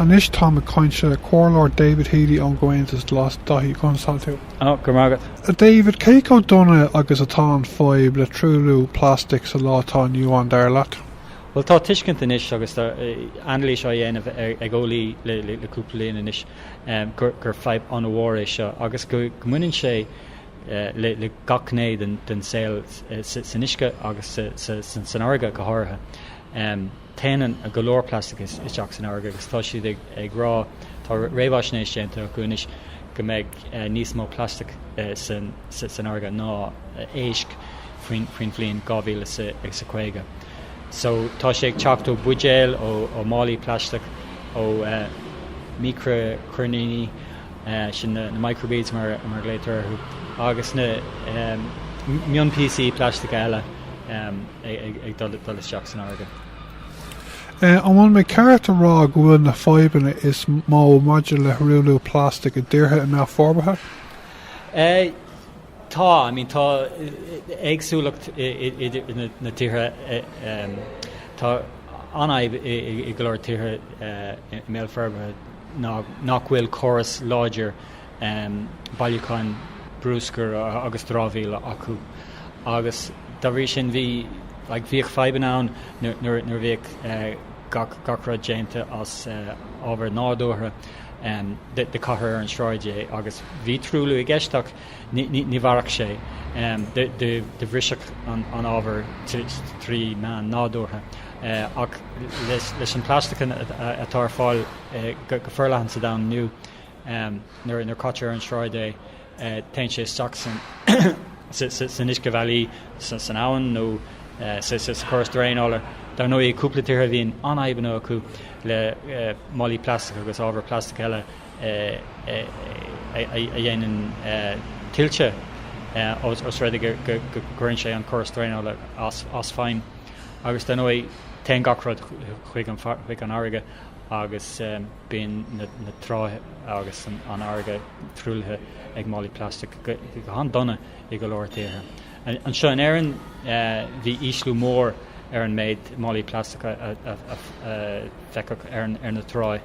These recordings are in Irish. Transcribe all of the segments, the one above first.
Anois táim ag caint le Comhairleoir David Healy ón gComhaontas Glas, Daithí conas tá tú? Oh, go raibh maith agat. A David, cé chomh dona agus atá an fadhb le truailliú plastic sa lá atá inniu ann, dar leat? Bhuel, tá tuiscint anois agus tá anailís á dhéanamh ag eolaithe le cúpla bliain anois gur fadhb an-mhór é seo agus go mbaineann sé le gach gné den saol, san uisce agus san fharraige go háirithe. Téann go leor plastic isteach san fharraige agus tá siad ag rá, tá réamhaisnéis déanta acu anois, go mbeidh níos mó plastic san fharraige ná éisc faoin bhliain 2050. So tá sé ag teacht ó bhuidéil, ó málaí plaisteach, ó mhícreachoirníní, sin na microbeads mar a ghlaotar orthu, agus na mionpíosaí plaisteacha eile. ag dul isteach san fharraige. An bhfuil mé ceart a rá go bhfuil na fadhbanna is mó maidir le truailliú plastic i dtíortha i mbéal forbartha? Tá. I mean, tá éagsúlacht idir na tíortha. Tá an fhadhb i go leor tíortha i mbéal forbartha ná nach bhfuil córas láidir bailiúcháin bruscair agus dramhaíola acu agus dá bhrí sin bhí like bhíodh fadhbanna ann nuair nuair a bhíodh gach gach rud déanta as ábhar nádúrtha do caitear ar an sráid é agus bhí truailliú i gceist ach ní ní ní mhairfeadh sé do do do bhrisfeadh an an ábhar trí meán nádúrtha ach leis leis an plastic atá ar fáil go forleathan sa domhan inniu nuair a caitear ar an sráid é, téann sé isteach san uiscebhealaí, san abhainn nó sa chóras draenála. Dar ndóigh, i gcúpla tíortha bíonn an-fhadhbanna acu le málaí plaisteacha agus ábhar plaisteach eile a dhéanann tuilte os rud é go gcuireann sé an córas draenála as feidhm. Agus, dar ndóigh, téann gach rud chuig an fharraige agus. bíonn na tráighe agus an fharraige truaillithe ag málaí plaisteach go han-dona i go leor tíortha. Anseo in Éirinn bhí ísliú mór ar an méid málaí plaisteacha a feicfeadh ar na tráigh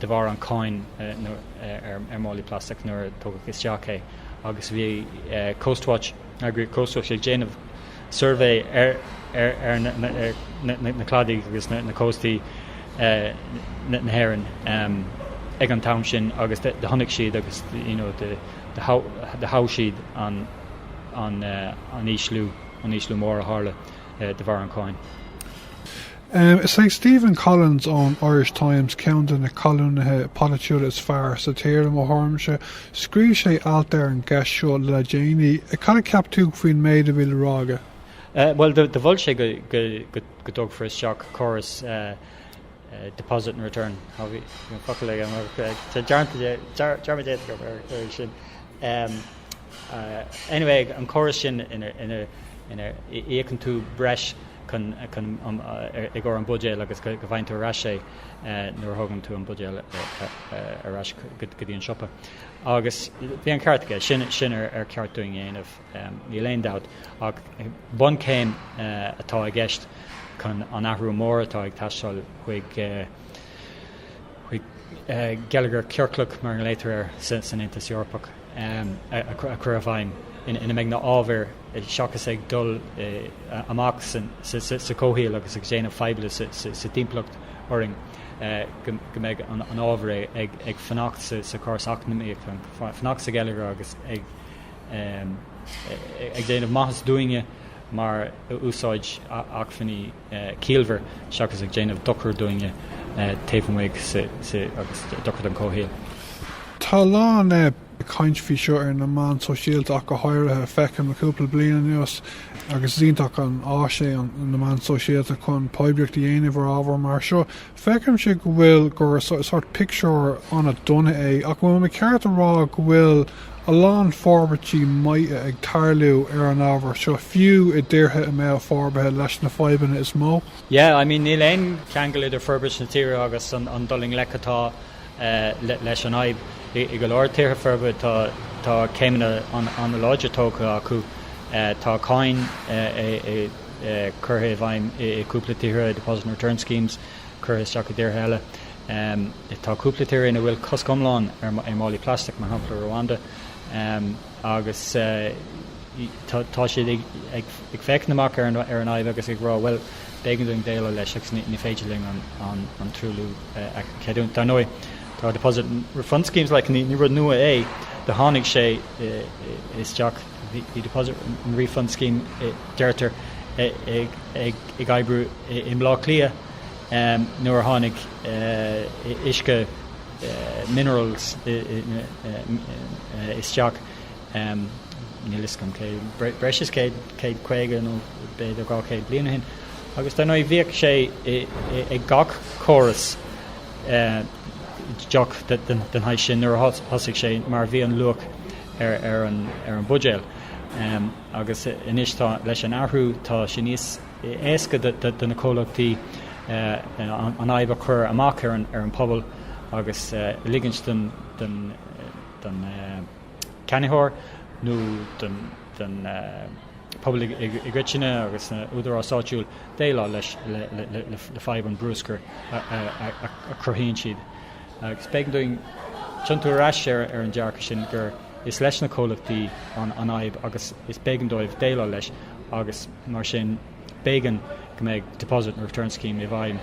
de bharr an cáin ar málaí plaisteach nuair a tugadh isteach é agus bhí Coastwatch Eagraíocht Coastwatch ag déanamh suirbhé ar na cladaigh agus na cóstaí na hÉireann ag an t-am sin agus do chonaic siad agus do thomhais siad an ísliú mór a tharla de bharr an cháin. Is é Stephen Collins ón Irish Times ceann de na colúnaithe polaitiúla is fearr sa tír, i mo thuairimse. Scríobh sé alt ar an gceist seo le déanaí. Cad a cheap tú faoin méid a bhí le rá aige? Bhuel, do mhol sé go dtógfar isteach córas deposit and return, tá dearmad déanta agam ar sin. Is é an córas sin ina íocann tú breis chun i gcomhair an buidéal agus go bhfaigheann tú ar ais é nuair a thógann tú an buidéal ar ais go dtí an siopa. Agus bhí an ceart aige, sin sin ar cheart dúinn a dhéanamh níl aon dabht ach bunchéim atá i gceist chun an athrú mór atá ag teastáil chuig chuig geilleagar ciorclach, mar a nglaotar air san Aontas Eorpach, a chur i bhfeidhm ina mbeidh na ábhair, seachas ag dul amach sa chomhshaol agus ag déanamh faidhbe sa timpeallacht orainn, go mbeidh an ábhar ag fanacht sa chóras eacnamaíoch, ag fanacht sa gheilleagar agus ag déanamh maitheasa dúinne mar úsáid acmhainní. ciallmhar seachas ag déanamh dochair dúinne taobh amuigh agus dochair don chomhshaol. Tá a lán caint faoi seo ar na meáin shóisialta ach go háirithe. Feicim le cúpla bliain anuas, agus is iontach an áis é na meáin shóisialta chun poiblíocht a dhéanamh ar ábhar mar seo, Feicimse go bhfuil, gur sórt pictiúr an-dona é, ach an bhfuil mé ceart a rá go bhfuil a lán forbairtí maithe ag tarlú ar an ábhar seo, fiú i dtíortha i mbéal forbartha leis na fadhbanna is mó? Yeah, I mean, níl aon cheangal idir forbairt na tíre agus an dul i ngleic atá leis an fhadhb. I go leor tíortha forbartha tá céimeanna an-láidir tógtha acu, tá cáin curtha i bhfeidhm i gcúpla tíortha, deposit and return schemes curtha isteach i dtíortha eile. Tá cúpla tír ina bhfuil cosc iomlán ar mhálaí plaisteach, mar shampla Rwanda, agus tá siad ag féachaint amach ar an fhadhb agus ag rá bhuel, b'éigean dúinn déileáil leis agus ní féidir linn an truailliú a cheadúint. Dar ndóigh, tá deposit and refund schemes, like ní rud nua é, tháinig sé isteach. Bhí deposit and refund scheme, deirtear, ag oibriú i mBleá Cliath nuair a tháinig uisce minerals isteach, níl fhios agam cé, breis is 150 nó b'fhéidir 200 bliain ó shin, agus dar ndóigh bhíodh sé ag gach córas. deoch den saghas sin nuair a thosaigh sé mar a bhí an luach ar an bhuidéal agus anois tá leis an athrú tá sé níos éasca do na comhlachtaí an fhadhb a chur amach ar an bpobal agus ligint don cheannaitheoir nó don pobal i gcoitinne agus na húdaráis áitiúil déileáil leis le fadhb an bruscair a chruthaíonn siad. Is b'éigean dúinn tiontú ar ais ar ar an dearcadh sin gur is leis na comhlachtaí an an fhadhb agus is b'éigean dóibh déileáil leis agus mar sin B'éigean go mbeadh Deposit and Return Scheme i bhfeidhm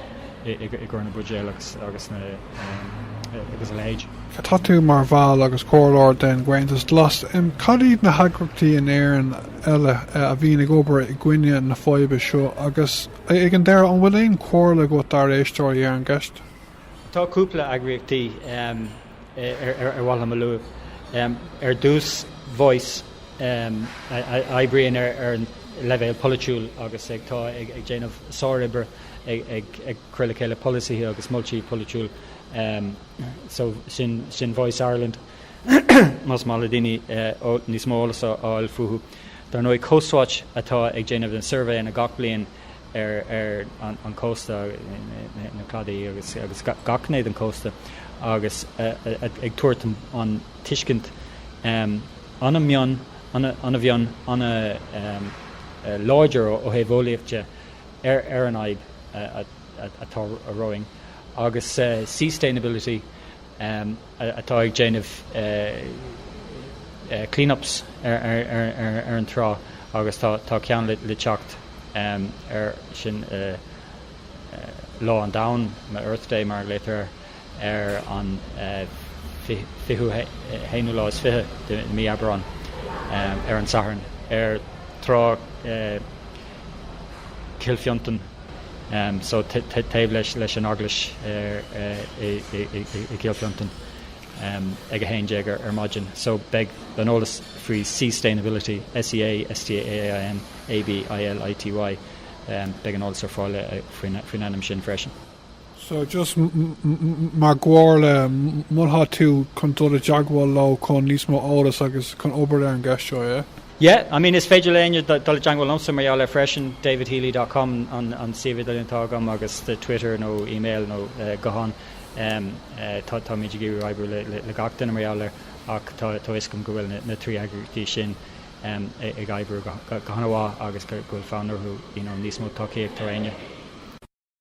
i gcomhair na buidéil agus a leithéid. Tá tú mar bhall agus comhairleoir den gComhaontas Glas. Cad iad na heagraíochtaí in Éirinn eile a bhíonn ag obair i gcoinne na faidhbe seo agus, ag an deireadh, an bhfuil aon chomhairle agat dár éisteoirí ar an gceist? Tá cúpla eagraíochtaí ar mhaith liom a lua. Ar dtús, Voice, a oibríonn ar an leibhéal polaitiúil agus atá ag déanamh sároibre ag cur le chéile polasaithe agus moltaí polaitiúla. So sin Voice Ireland, más maith le daoine níos mó eolas a fháil fúthu. Dar ndóigh, Coastwatch atá ag déanamh na suirbhéanna gach bliain. ar an chósta, na cladaí agus gach gné den chósta agus ag tabhairt an tuiscint an-mhion, an-mhion, an-láidir ó thaobh eolaíocht de ar an fhadhb atá romhainn agus Seastainability. atá ag déanamh clean-ups ar an trá agus tá ceann le teacht ansin Lá an Domhain, nó Earth Day mar a ghlaotar air, ar an 20ú, haonú lá is fiche de mhí Aibreán, ar an Satharn, ar Thrá. Cill Fhionntain so taobh leis an eaglais i gCill Fhionntain ag 11 ar maidin so beidh an eolas faoi Seastainability, S-e-a-s-t-a-i-n-a-b-i-l-i-t-y beidh an eolas ar fáil faoin ainm sin freisin. So just mar chomhairle molfadh tú chun dul i dteagmháil leo chun níos mó eolas agus chun obair ar an gceist seo, yeah? Yeah, I mean is féidir le éinne dul i dteagmháil liomsa mar gheall air freisin, davidhealy dot com an suíomh idirlín atá agam agus twitter nó email nó guthán táimid ag iarraidh oibriú le gach duine mar gheall air ach tá a fhios agam go bhfuil na trí eagraíochtaí sin ag oibriú go han-mhaith agus go bhfuil fonn orthu you know níos mó tacaíocht ar éinne.